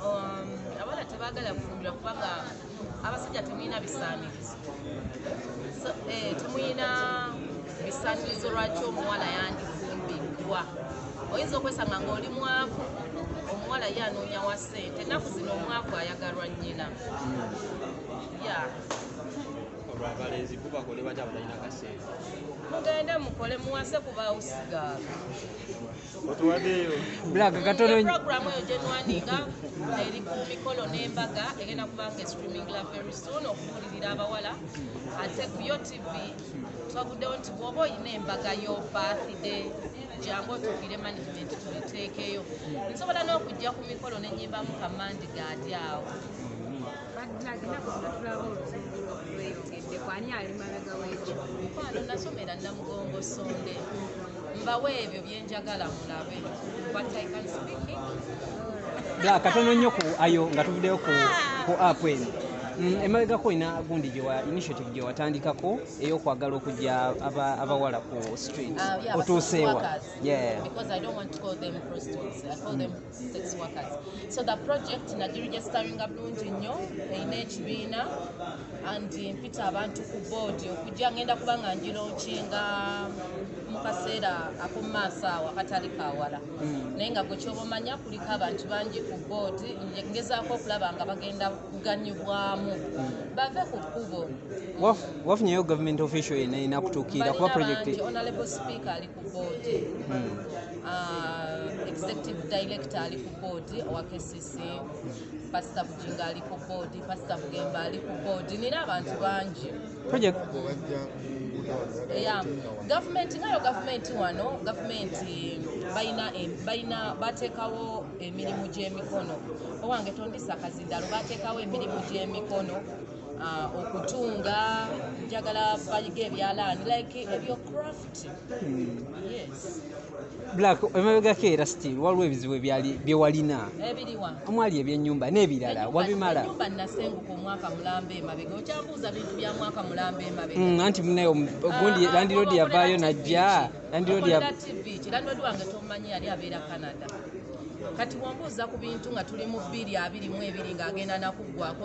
Um, abana tebagala kufumbira kubanga abasajja temuyina bisaanirizo eh, temuyina bisaanirizo lwaki omuwala yandifumbirwa oyinza okwesanga ngaoli mwavu omuwala ye anoonya wa ssente ennaku zino omwavu ayagalwa nnyina ya abalenzi bo bakole batya abatalina kasente mugende mukole muwase kuba usigala Black katono nnyo. Program eyo gye nwandiika eri ku mikolo n'embaga egenda kuba nga streaming la very soon okubuulirira abawala ate ku yo TV twaguddewo nti bw'oba olina embaga yo birthday jangu otuukire management tubeteekeyo nsobola n'okujja ku mikolo ne nyimbamu kamandi gaadi awo mukwano nasomera namugongo sonde mbawe ebyo byenjagala mulabe but i can speak black katono nnyo ku ayo nga tuvuddeyo ku ku app eno mm, emabegako olina gundi gyewa initiative gyewatandikako eyokwagala okujja abawala ku street ah, otuuseewa yeah. sex workers so the project nagiregisteringa bulungi nnyo erina ekibiina and mpita abantu ku boodi okujja ngenda kuba nga ngironkinga mu kaseera akumumaaso awo akatali kawala hmm. naye nga gwe kyoba omanya kuliko abantu bangi ku boodi ngezaako okulaba nga bagenda kuganyibwamu hmm. bave ku kkubo wafunyeyo government official yenayina kutuukiira kuba project boodi uh, executive director ali ku boodi owa kcc pasita bujinga ali ku boodi pasita bugemba ali ku boodi nina abantu bangi ya gavumenti ngayo gavumenti wano gavumenti balina bateekawo emirimu gy'emikono owange tondisa kazindalo bateekawo emirimu gy'emikono uh, okutunga njagala bayiga ebyalaani like ebyo craft black emabegako era still waliwo ebizibu ebyali byewalina omwali ebyenyumba n'ebirala wabimala mm, anti munaye ogundi ah, landirodi yavaayo najja landirodi kati wambuuza ku bintu nga tuli mu bbiri abiri mu ebiri ng'agenda nakuggwako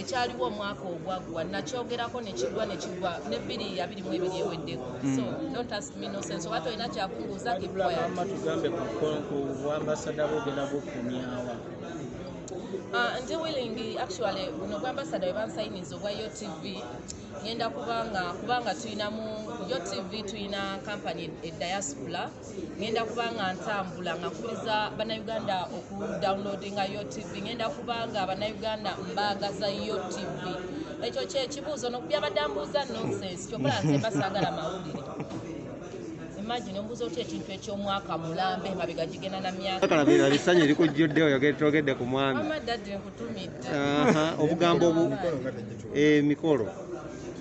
ekyaliwo omwaka ogwaggwa nakyogerako nekigwa nekigwa ne bbiri abiri mu ebiri eweddeko hmm. so don't ask me no sense oba tolina kyakubuuza kibwayama tugambe ku bwambasada bwogenda bukumyawa ah, ndi willing actually buno bwambasada webansayiniza obwa yo tv ngenda kubanga kubanga tulinamu yo tv tulina kampany ediaspora ngenda kuba nga ntambula nga kuliza bannayuganda oku downloadinga yo tv ngenda kuba nga bannayuganda mbaagaza yo tv ekyo kyekibuuzo nokubyabadde ambuuza nonsense kyokola nze mba saagala mawulire imagine ombuuza otya ekintu ekyomwaka mulambe emabega gigenda na myakaesanyu erikujjudde oyogetoogedde ku mwami nkutumidde obugambo emikolo eh,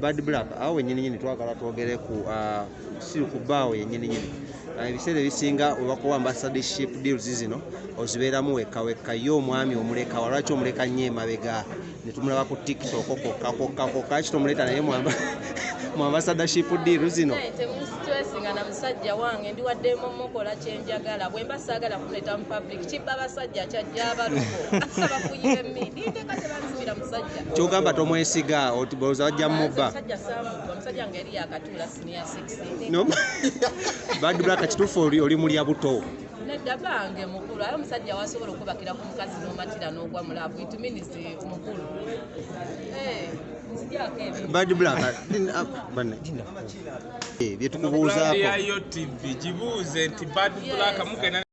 Bad Black awo wenyini nyini twagala twogere ku uh, si ku baawo yenyini nyini uh, ebiseera ebisinga webakuwa ambassadorship deals zino ozibeeramu wekka wekka ye omwami omuleka walwaki omuleka nnyo emabega ne tumulaba ku tiktok kokka kokka kokka ki tomuleeta naye mwamba mu ambassadorship deal zino temusitressingana musajja wange ndiwadde momukola kyenjagala bwemba saagala kuleeta mu ekitibba basajja kyajja abaluko abafunyira emmindi nteka tebanzibira musajja kyogamba tomwesiga otiboza wajja mubba musajja samuntu omusajja nga eri yakatuula siniya 6 bad black kituufu oli mulya buto nedda bange mukulu aye omusajja wasobola okubakira ku mukazi n'omatira n'ogwa mulaavu it means eh, mukulu eh, bad black ah, ah, banne eh, byetukubuuzaako tv gibuuze nti bad black mugenda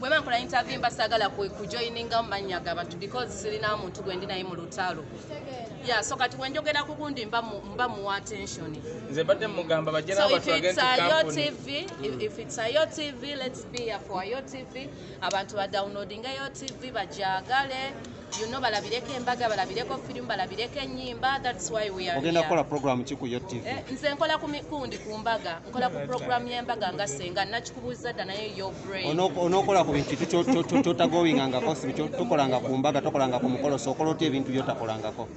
bweba nkola interview mba sagala kujoiningamu mannya ga bantu because sirina muntu gwendi naye mu lutalo ya so kati wenjogera ku gundi mba muwa attention nze mbadde mugamba bajera abantu agenti kampuni mm. if it's a yo tv let's be a for yo tv abantu ba downloading yo tv bajagale you know balabireko embaga balabireko film balabireko enyimba that's why we are ogenda kola program ki ku your tv eh, nze nkola ku mikundi ku mbaga nkola ku program ya mbaga nga senga nakikubuza da naye your brain ono ono kola ku bintu kyo kyo kyo kyo tagoinga nga kosi kyo tokola nga ku mbaga tokola nga ku mukolo so kola oti ebintu byo takola nga ko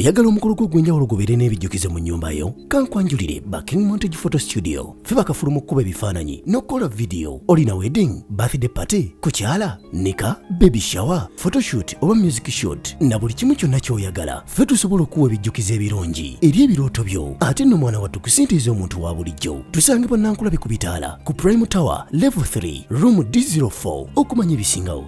oyagala omukolo gwo ogw'enjawulo gubeere n'ebijjukizo mu nnyumba yo kankwanjulire ba king montage photo studio fe bakafulu mu kkuba ebifaananyi n'okukola vidiyo olina wedding birthday party kukyala nika baby shower photoshoot oba music shoot na buli kimu kyonna ky'oyagala fe tusobola okuwa ebijjukizo ebirungi eri ebirooto byo ate nno mwana wattu kusintiiza omuntu wa bulijjo tusange bannankulabe ku bitaala ku prime tower level 3 room d04 okumanya ebisingawo